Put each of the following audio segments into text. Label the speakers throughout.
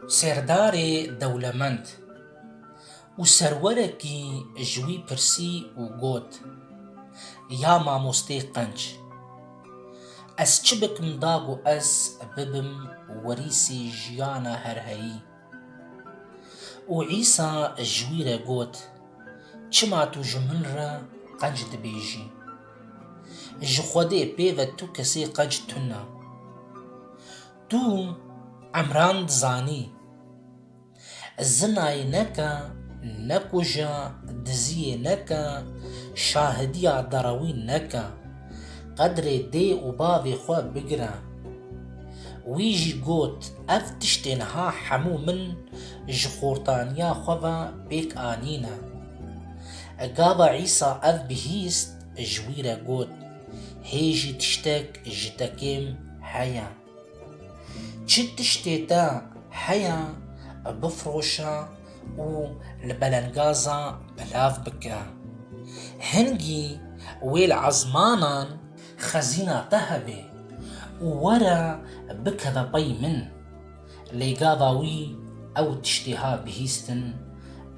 Speaker 1: Serdarê dewlemend û serwerekî ji wî pirsî û got, Ya mamostê qenc, ez çi bikim da ku ez bibim werîsî jiyana herheyî? Û Îsa ji wî re got, Çima tu ji min re qenc dibêjî? Ji Xwedê pêve tu kesê qenc tune. Tu emran dizanî, Zinayê neke, nekuje, diziyê neke, şahidîya derawî neke. qedrê dê û bavê xwe bigire. Wî jî got, Ev tiştê niha hemû min ji xortaniya xwe ve pêk anîne. Gava Îsa ev bihîst, ji wî re got, Hê jî tiştek ji te kêm heye. Çi tiştê te heye bifiroşe û li belengazê belav bike. Hingî wê li ezmanan xezîna te hebe û were bikeve pey min. Lê gava wî ew tiştê hat bihîstin,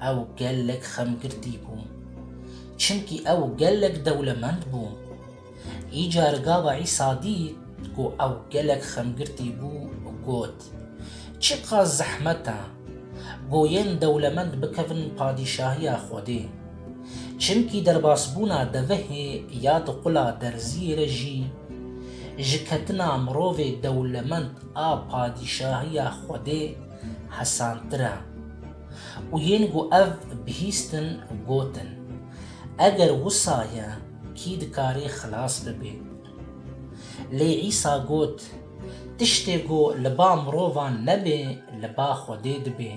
Speaker 1: ew gelek xemgirtî bû. Çimkî ew gelek dewlemend bû. Îcar gava Îsa dît ku ew gelek xemgirtî bû, got, Çiqas zehmet e goyên dewlemend bikevin padîşahiya Xwedê! Çimkî derbasbûna devihê ya di qula derziyê re jî ji ketina mirovê dewlemend a padîşahiya Xwedê hesantir e. Û yên ku ev bihîstin, gotin, Eger wisa ye, Kî dikarî xilas bibê? Lê Îsa got, Tiştê ku li ba mirovan nebê, li ba Xwedê dibê.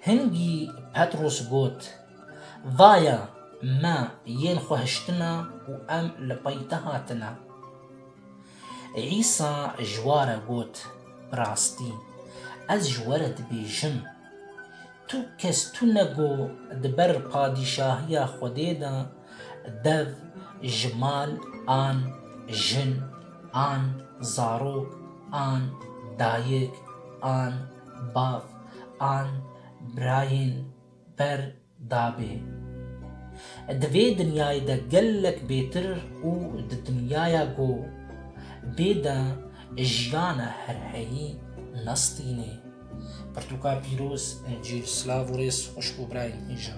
Speaker 1: Hingî Petros got, Vaya, me yên xwe hiştina û em li peyte hatine. Îsa ji wa re got, Bi rastî, ez ji we re dibêjim, tu kes tune ku di ber padîşahiya Xwedê de dev ji mal an, jin an, zarok an, dayik an, bav an, birayên ber dabê. Di vê dinyayê de gelek bêtir û di dinyaya ku bê de jiyana herheyî nestînê. Pirtûka pîroz Encîl Silav û rêz xwişk û birayên hêja.